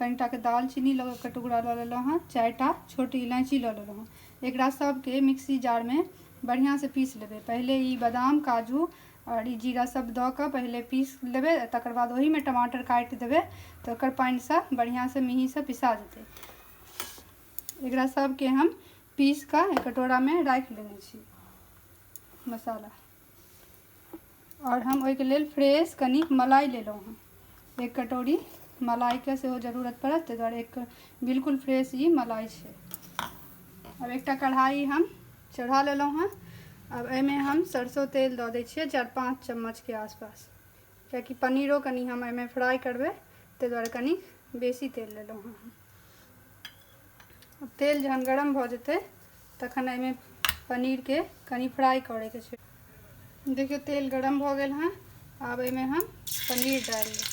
कनिटाके दालचीनी लऽ कऽ टुकड़ा लऽ लेलहुँ हँ चारिटा छोट इलायची लऽ लेलहुँ हँ एकरा सबके मिक्सी जारमे बढ़िआँसँ पीस लेबै पहिले ई बदाम काजू आओर ई जीरा सब दऽ कऽ पहिले पीस लेबै आओर तकर बाद ओहिमे टमाटर काटि देबै तऽ ओकर पानिसँ बढ़िआँसँ मिहीसँ पिसा जेतै एकरा सबके हम पीस कऽ कटोरामे राखि लेने छी मसाला आओर हम ओहिके लेल फ्रेश कनि मलाई लेलहुँ हँ एक कटोरी मलाइके सेहो जरूरत पड़त ताहि दुआरे एक बिल्कुल फ्रेश ई मलाई छै आब एकटा कढ़ाइ हम चढ़ा लेलहुँ हँ आब एहिमे हम सरसो तेल दऽ दै छियै चारि पाँच चम्मचके आसपास कियाकि पनीरो कनि हम एहिमे फ्राइ करबै ताहि दुआरे कनि बेसी तेल लेलहुँ हँ तेल जहन गरम भऽ जेतै तखन एहिमे पनीरके कनि फ्राइ करैके छै देखियौ तेल गरम भऽ गेल हँ आब एहिमे हम पनीर डालि देब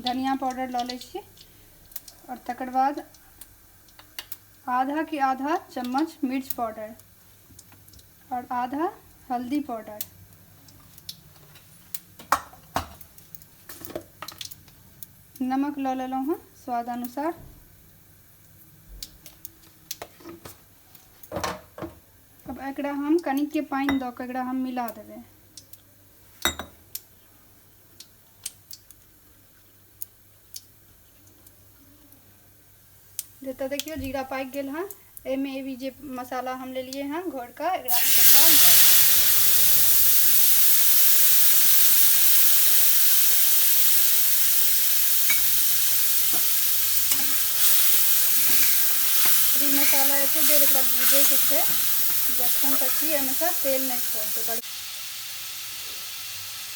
धनिया पाउडर लऽ लै छी आओर तकर बाद आधा के आधा चम्मच मिर्च पाउडर आओर आधा हल्दी पाउडर नमक लऽ लेलहुँ हँ स्वाद अनुसार अब एकरा हम कनिके पानि दऽ कऽ एकरा हम मिला देबै जतऽ देखियो जीरा पाकि गेल हँ एहिमे एबी जे मसाला हम लेलिए हँ घरके एकरा मसाला एते देर एक भूजे के छै जखन तक कि एहिमेसँ तेल नहीं छोड़ दे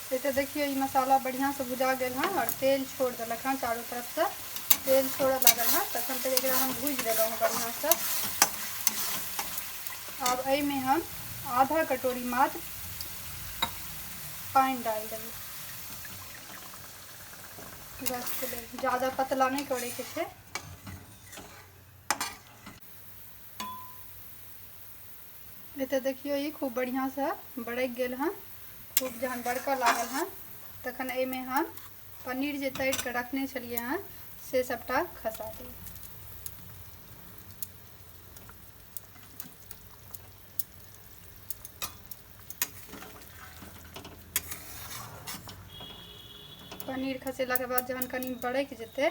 से तऽ देखियौ ई मसाला बढ़िआँसँ भुजा गेल हँ आओर तेल छोड़ देलक हँ चारू तरफसँ तेल छोड़ऽ लागल हँ तखन तक एकरा हम भूजि देलहुँ हँ बढ़िआँसँ आब एहिमे हम आधा कटोरी मात्र पानि डालि देबै रसके लेल ज़्यादा पतला नहि करैके छै नहि तऽ देखियौ ई खूब बढ़िआँसँ बरकि गेल हन खूब जहन बरकऽ लागल हन तखन एहिमे हम पनीर जे तरि कऽ रखने छलियै हन से सभटा खसा देब पनीर खसेलाके बाद जहन कनि बरकि जेतै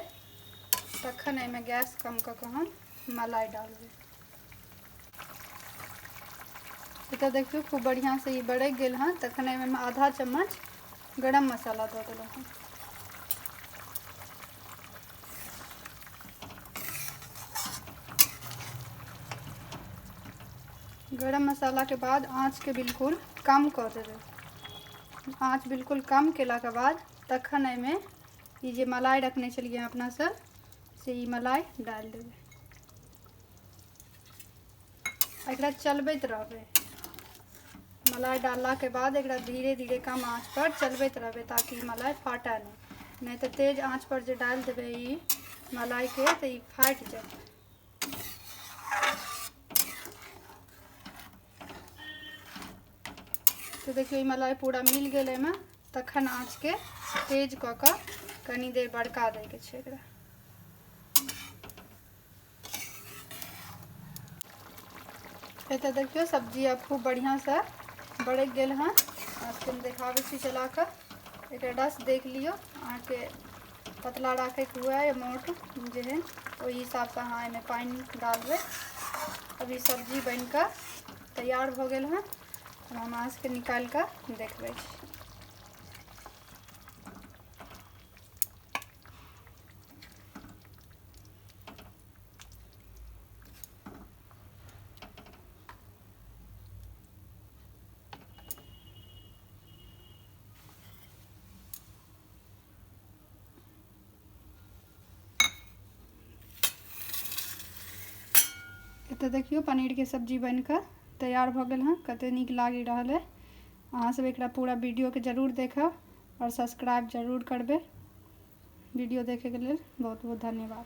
तखन एहिमे गैस कम कऽ कऽ हम मलाई डालबै एतऽ देखियौ खूब बढ़िआँसँ ई बरकि गेल हँ तखन एहिमे हम आधा चम्मच गरम मसाला दऽ देलहुँ हँ गरम मसालाके बाद आँचके बिल्कुल कम कऽ देबै आँच बिल्कुल कम केलाके बाद तखन एहिमे ई जे मलाई रखने छलियै अपनासभ से ई मलाई डालि देबै एकरा चलबैत रहबै मलाई डाललाके बाद एकरा धीरे धीरे कम आँचपर चलबैत रहबै ताकि मलाई फाटै नहि नहि तऽ तेज आँचपर जे डालि देबै ई मलाइके तऽ ई फाटि जेतै तऽ देखियौ ई मलाई पूरा मिल गेल एहिमे तखन आँचके तेज कऽ कऽ कनी देर बड़का दैके छै एकरा एतऽ देखियौ सब्जी आब खूब बढ़िआँसँ बड़कि गेल हँ अहाँके हम देखाबै छी चला कऽ एकर रस देख लियौ अहाँके पतला राखैके हुए या मोट जेहन ओहि हिसाबसँ अहाँ एहिमे पानि डालबै अभी सब्जी बनि कऽ तैयार भऽ गेल हँ हम अहाँ सभके निकालि कऽ देखबै छी एतऽ देखियौ पनीरके सब्जी बनि कऽ तैयार भऽ गेल हँ कतेक नीक लागि रहल अइ अहाँसभ एकरा पूरा वीडियोके जरूर देखब आओर सब्सक्राइब जरूर करबै वीडियो देखैके लेल बहुत बहुत धन्यवाद